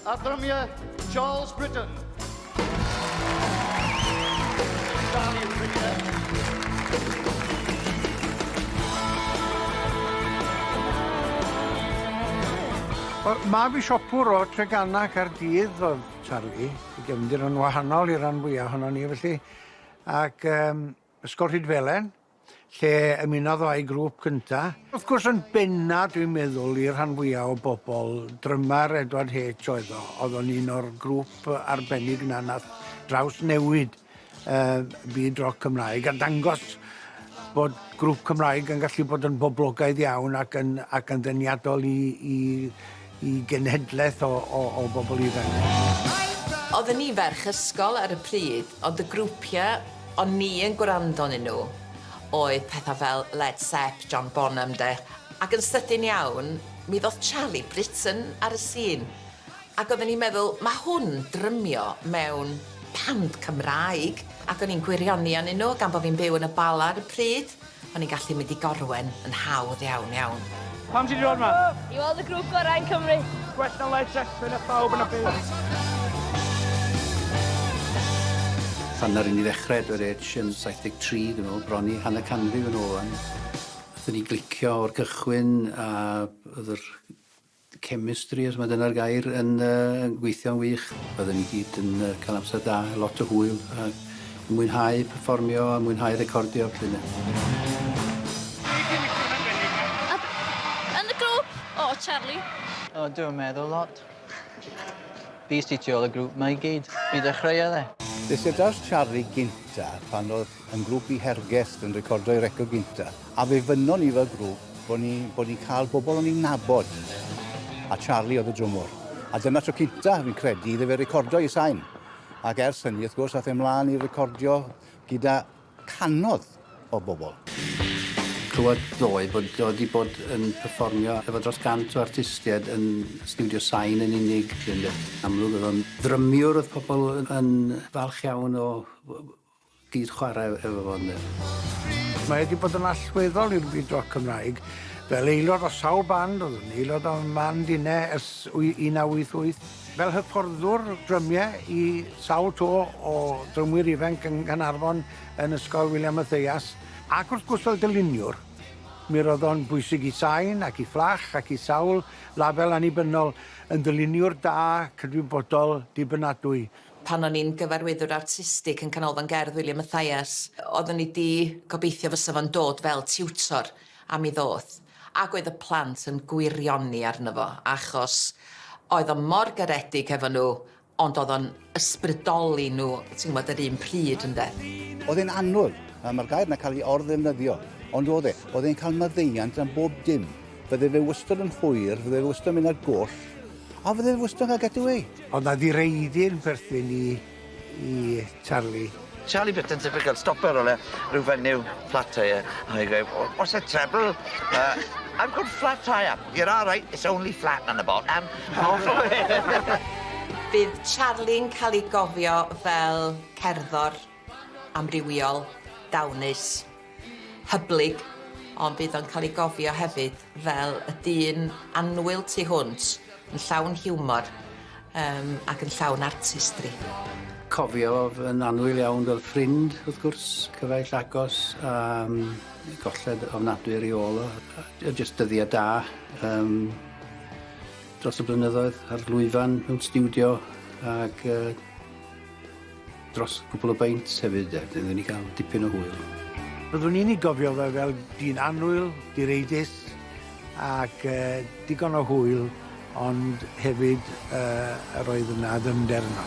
a drymiau Charles Britton. Charlie Britton. Wel, mab i siopwr o Treganna Caerdydd oedd Charlie, i gefndir yn wahanol i ran fwyaf ohono ni felly. Ac um, Ysgol Rhydfelen, lle ymunodd o â'i grŵp cynta. Wrth gwrs yn benna dwi'n meddwl i'r rhan fwya o bobl, drymer Edward Heitch oedd o, oedd o'n un o'r grŵp arbennig 'na nath drawsnewid yy byd roc Cymraeg a dangos bod grŵp Cymraeg yn gallu bod yn boblogaidd iawn ac yn ac yn ddeniadol i i i genhedlaeth o, o, o bobl ifanc. Oedden i'n ferch ysgol ar y pryd, ond y grwpiau o'n ni yn gwrando onyn nhw oedd pethau fel Led Sepp, John Bonham 'de, ac yn sydyn iawn mi ddoth Charlie Britton ar y sîn, ac oedden ni'n meddwl 'ma hwn drymio mewn band Cymraeg', ac o'n i'n gwirioni onyn nhw gan bo' fi'n byw yn y Bala ar y pryd. O'n i'n gallu mynd i Gorwen yn hawdd iawn, iawn. Pam ti 'di dod 'ma? I weld y grŵp gorau yn Cymru. Gwell na Led Zeppelin a phawb yn y byd. Pan naru ni ddechre Edward Edge yn 73 dwi'n me'wl, bron i hanner canrif yn ôl wan, nathon ni glicio o'r cychwyn a o'dd yr chemistry, os mae dyna'r gair, yn gweithio'n wych. Roedden ni gyd yn cael amser da, lot o hwyl, a mwynhau perfformio a mwynhau recordio, felly ynde. Yn y grŵp? O, Charlie. O, dwi'n meddwl lot. Fi sy tu ôl y grŵp 'ma i gyd. Fi dechreuodd e. Fe syldaws Charlie gynta pan oedd yn grŵp i Hergest yn recordo'i record gynta. A fe fynnon ni fel grŵp bod ni bod ni'n cael bobl o'n ni'n nabod. A Charlie oedd y drwmwr. A dyna tro cynta, fi'n credu, iddo fe recordo ei sain. Ac ers hynny, wrth gwrs, ath e mlaen i recordio gyda canodd o bobl. Clywed ddoe bod o wedi bod yn perfformio efo dros gant o artistiaid yn stiwdio sain yn unig, yn amlwg oedd o'n ddrymiwr oedd pobl yn falch iawn o Gyd chwarae efo fo ynde. Mae wedi bod yn allweddol i'r byd roc Cymraeg. Fel aelod o sawl band, oedd yn aelod o Man Dinne ers 1988, fel hyfforddwr drymie i sawl to o drymwyr ifainc yng Nghanarfon yn Ysgol William Mathias, ac wrth gwrs fel dyluniwr. Mi roedd o'n bwysig i Sain ac i Fflach ac i sawl label annibynnol yn ddyluniwr da, cydwybodol, dibynadwy. Pan o'n i'n gyfarwyddwr artistig yn Canolfan Gerdd William Mathias, oeddwn i 'di gobeithio fysa fo'n dod fel tiwtor, a mi ddoth. Ac oedd y plant yn gwirioni arno fo, achos oedd o mor garedig hefo nhw, ond oedd o'n ysbrydoli nhw, ti'n gwybod, yr un pryd, ynde. Oedd e'n anodd, a mae'r gair 'na cael ei or-ddefnyddio, ond oedd e. Oedd e'n cael maddeuant am bob dim. Fydde fe wastod yn hwyr, fydde fe wastod yn mynd ar goll, A fydde fe'n wsnog ag ydw i. Ond na ddireidyn perthyn i i Charlie. Charlie Bitten typical stopper ole ryw fenyw flat tyre a mae gweu o what's the treble yy I've got flat tyre. You're all right it's only flat on the bottom. Bydd Charlie'n ca'l ei gofio fel cerddor. amrywiol, dawnus, hyblyg, ond bydd o'n cael ei gofio hefyd fel y dyn annwyl tu hwnt, yn llawn hiwmor yym ac yn llawn artistri. Cofiodd yn annwyl iawn fel ffrind, wrth gwrs, cyfaill agos a yym golled ofnadwy ar ei ôl o a jyst dyddiau da yym dros y blynyddoedd a'r lwyfan mewn stiwdio ac yy Dros gwpl o beints hefyd de, wedyn oedden ni ga'l dipyn o hwyl. Byddwn i'n ei gofio fe fel dyn annwyl, direidus ac yy digon o hwyl ond hefyd yy yr oedd yna ddyfnder yno.